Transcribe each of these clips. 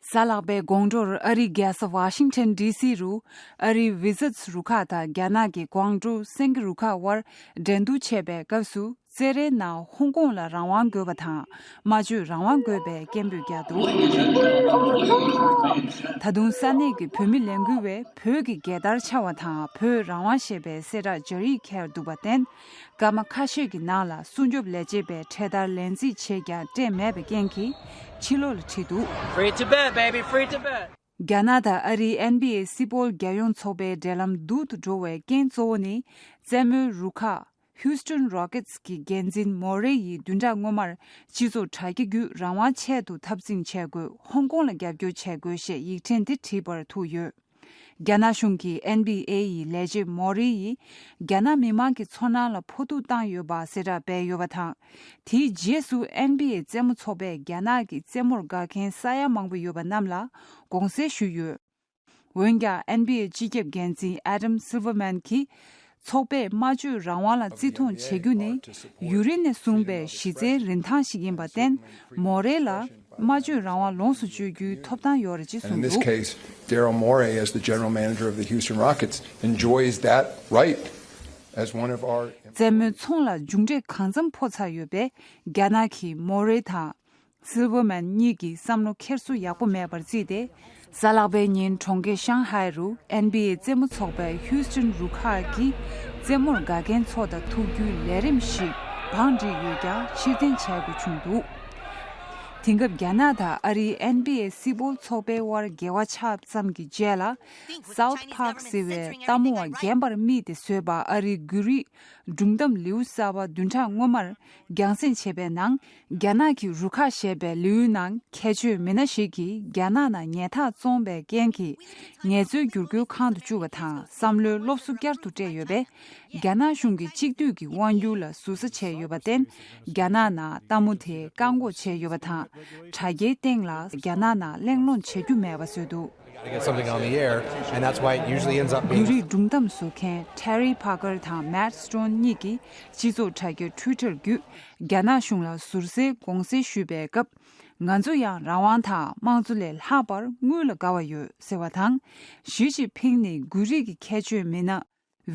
གཟའ་ལྷག་པའི་དགོང་དྲོར་ཨ་རིའི་རྒྱལ་ས Washington DC རུ་ཨ་རིའི Wizards རུ་ཁག་དང་རྒྱ་ནག་གི Guangzhou སེང་གེ་རུ་ཁག་དབར་འགྲན་བསྡུར་བྱས་པའི་སྐབས་སུ་རྩེད་རའི་ནང་ཧོང་ཀོང་ལ་རང་དབང་དགོས་པ་དང་སྨྲ་བརྗོད་རང་དབང་དགོས་པའི་སྐད་འབོད་རྒྱག་འདུག་ད་དུང་ས་གནས་ཀྱི་བོད་མི་ལས་འགུལ་བས་བོད་ཀྱི་རྒྱལ་དར་འཕྱར་བ་དང་བོད་རང་དབང་ཞེས་པའི་གསལ་བསྒྲགས་སྦྱར་ཡིག་འཁྱེར་འདུག་པ་བརྟེན་སྐར་མ་ཁ་ཤས་ཀྱི་ནང་ལ་སྲུང་སྐྱོབ་ལས་བྱེད་པས་འཕྲེད་དར་ལེན་རྩིས་བྱས་ཀྱང་སྤྲད་མེད་པའི་རྐྱེན་གྱིས་ཕྱི་ལོགས་ལ་ཁྲིད་འདུག། རྒྱ་ནག་དང་ཨ་རིའི་ཨན་བྷི་ཨེ་སི་པོལ་རྒྱལ་ཡོངས་ཚོགས་པའི་འབྲེལ་ལམ་སྡུག་ཏུ་འགྲོ་བའི་རྐྱེན་གཙོ་བོ་ནི་རྩེད་མོའི་རུ་ཁག Houston Rockets གྱི་འགན་འཛིན་མོ་རེ་ཡིས་བདུན་ཕྲག་སྔོན་མར་སྤྱི་ཚོགས་དྲ་རྒྱ་བརྒྱུད་རང་དབང་ཆེད་དུ་འཐབ་འཛིང་བྱས་དགོས་ཧོང་ཀོང་ལ་རྒྱབ་སྐྱོར་བྱས་དགོས་ཞེས་ཡིག་ཕྲེང་འདི་བྲིས་པར་ཐུག་ཡོད། རྒྱ་ནག་གཞུང་གིས་ཨེན་བྷི་ཨེ་ཡི་ལས་བྱེད་མོ་རི་ཡིས་རྒྱ་ནག་མི་དམངས་ཀྱི་ཚོར་སྣང་ལ་ཕོག་ཐུག་བཏང་ཡོད་པ་གསལ་བསྒྲགས་སྤེལ་ཡོད་པ་དང། དེའི་རྗེས་སུ་ཨེན་བྷི་ཨེ་རྩེད་མོ་ཚོགས་པས་རྒྱ་ནག་གི་རྩེད་མོར་དགའ་མཁན་ས་ཡ་མང་པོ་ཡོད་པ་རྣམས་ལ་དགོངས་སེལ་ཞུས་ཡོད། འོན་ཀྱང་ཨེན་བྷི་ཨེ་སྤྱི་ཁྱབ་འགན་འཛིན Adam Silverman གྱིས། ཚོགས་པས་སྨྲ་བརྗོད་རང་དབང་ལ་བརྩི་མཐོང་བྱེད་རྒྱུ་ནི། ཡུ་རིན་ནས་བཟུང་པའི་གཞི་རྩའི་རིན་ཐང་ཞིག་ཡིན་པར་བརྟེན། མོ་རེ་ལ། སྨྲ་བརྗོད་རང་དབང་ལོངས་སུ་སྤྱོད་རྒྱུའི་ཐོབ་ཐང་ཡོད་རེད་ཅེས་གསུངས་འདུག། མཚན་མོའི་ཚོང་ལ་མཇུག་འབྲས་གང་འཚམ་འཕོ་ཚར་ཡོད་པས། རྒྱ་ནག་གིས་མོ་རེ་དང། Silverman། གཉིས་ཀྱི་བསམ་བློ་འཁྱེར་སོ་ཡག་པོ་མེད་པར་བརྩིས་ཏེ། གཟའ་ལག་པའི་ཉིན་གྲོང་ཁྱེར་ཤང་ཧའེ་རུ NBA རྩེད་མོ་ཚོགས་པའི Houston Rookers ཀྱིས་རྩེད་མོར་དགའ་མཁན་ཚོ་དང་ཐུག་རྒྱུའི་ལས་རིམ་ཞིག་བང་བསྒྲིགས་ཡོད་ཀྱང་ཕྱིར་འཐེན་བྱ་དགོས་བྱུང་འདུག་དེང་སྐབས་རྒྱ་ནག་དང་ཨ་རིའི NBA སིལ་སྤོལ་ཚོགས་པའི་དབར་འགལ་བ་ཆགས་མཚམས་ཀྱི་རྗེས་ལ། South Park ཟེར་བའི་ལྟ་མོ་བ་རྒན་པར་རྨིས་ཏེ་བཟོས་པ་ཨ་རིའི་འགུལ་རིས་སྒྲུང་གཏམ་ལེའུ་གསར་བ་བདུན་ཕྲག་སྔོན་མར་རྒྱང་སྲིང་བྱས་པའི་ནང། རྒྱ་ནག་གི་རུ་ཁག་ཞེས་པའི་ལེའུའི་ནང་ཁྱད་ཆོས་མི་སྣ་ཞིག་གིས་རྒྱ་ནག་ནང་ཉལ་ཐག་བཙོངས་པའི་རྐྱེན་གྱིས་ངལ་རྩོལ་བསྒྱུར་བཀོལ་ཁང་དུ་བཅུག་པ་དང་བསམ་བློའི་སློབ་གསོ་བསྐྱར་དུ་སྤྲད་ཡོད་པས་རྒྱ་ནག་གཞུང་གིས་གཅིག་སྡུད་ཀྱི་དབང་བསྒྱུར་ལ་ཟུར་ཟ་བྱས་ཡོད་པར་བརྟེན་རྒྱ་ནག་ནང་ལྟད་མོ་དེ་བཀག་འགོག་བྱས་ཡོད་པ་དང་དྲ་རྒྱའི་སྟེང་ལ་རྒྱ་ནག་ནང་གླེང་སློང་བྱེད་རྒྱུ་མེད་པ་བཟོས་འདུག། འདི་རིགས་སྒྲུང་གཏམ་བཟོ་མཁན Terry Parker དང Matt Stone གཉིས་ཀྱིས་སྤྱི་ཚོགས་དྲ་རྒྱ Twitter བརྒྱུད་རྒྱ་ནག་གཞུང་ལ་ཟུར་ཟའི་དགོངས་སེལ་ཞུས་པའི་སྐབས། ང་ཚོ་ཡང་རང་དབང་དང་དམངས་གཙོ་ལས་ལྷག་པར་དངུལ་ལ་དགའ་བ་ཡོད་ཟེར་བ་དང། ཞི་ཅིན་ཕིང་ནི་འགུལ་རིས་ཀྱི་ཁྱད་ཆོས་མེད་ན།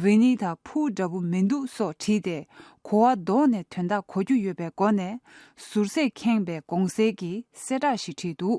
ཝེ་ནི་ད་ཕུའུ་འདྲ་པོ་མི་འདུག་སོགས་བྲིས་ཏེ་གོ་བ་བཟློག་ནས་དོན་དག་གོ་རྒྱུ་ཡོད་པའི་སྒོ་ནས་ཟུར་ཟས་ཁེངས་པའི་དགོངས་སེལ་གྱི་གསལ་བསྒྲགས་ཤིག་བྲིས་འདུག།